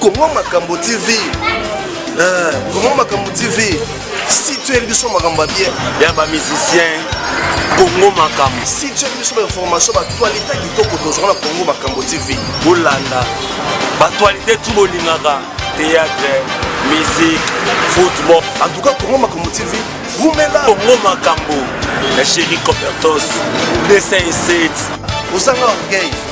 Congo Makambo TV. Euh, Congo Makambo TV. Si tu es biso makambo bien. Ya ba musiciens Congo Makambo. Si tu es biso ba information ba actualité kitoko tozwa na Congo Makambo TV. Bolanda. Ba actualité tout bolingaka théâtre, musique, football. En tout cas Congo Makambo TV. Vumela. Congo Makambo. La chérie Copertos 207. Osanga orgueil.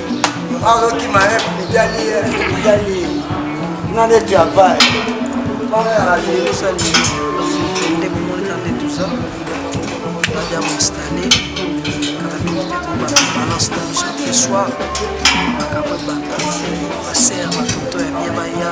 azoki maep mitali mitali na neti ya vai bana ya rajeusali nde komonika nde tuza badia moinstale kaka mingi te kobana balance na biso te soir makambo ebanda baser batoto ya bia baya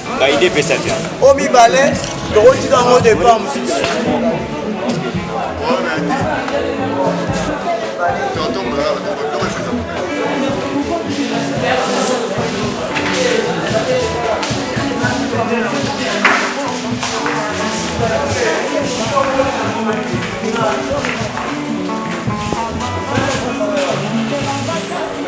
baide epesa te o mibale tokotika yango depart mosusu Thank you.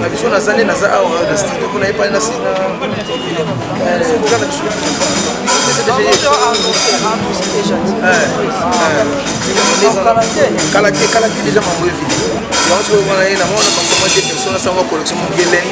na biso naza nde naza awa na studio mpo naye pale nasi na biso kala te kala te deja mambo evidi yango soki wana ye na mwana makomate personne asanga collection mongeleni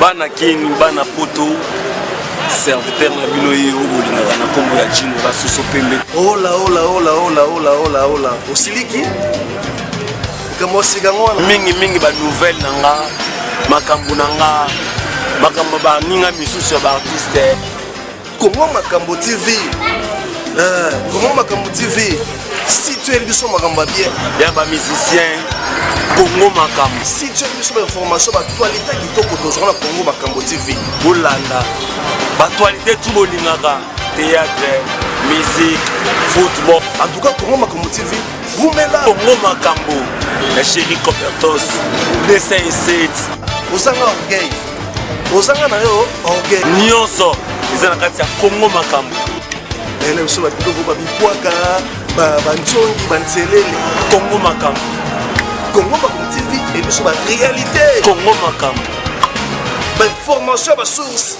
bana king bana poto serviteur na bino ye oyo bolingaka na nkombo ya jino basoso pembe olaolaolaolaolaolaola osiliki mingi mingi ba nouvelle na nga makambo na nga makambo baninga misusu ya baartiste kongo makambo tv eh, kongo makambo tv situe biso makambo ya bien ya bamusicien kongo makambo situe biso bainformation batualite kitoko tozwa na kongo makambo tv bolanda batualite tu bolingaka théâtre musique football en tout cas kongo makambo tv Wumela Congo Makambo na Chéri Copertos 207 Ozanga orgueil Ozanga na yo orgueil Nyonso eza na kati ya Congo Makambo Ele biso ba biloko ba bikwaka ba ba nzongi ba nzelele Congo Makambo Congo Makambo TV et biso ba réalité Congo Makambo ba information ba source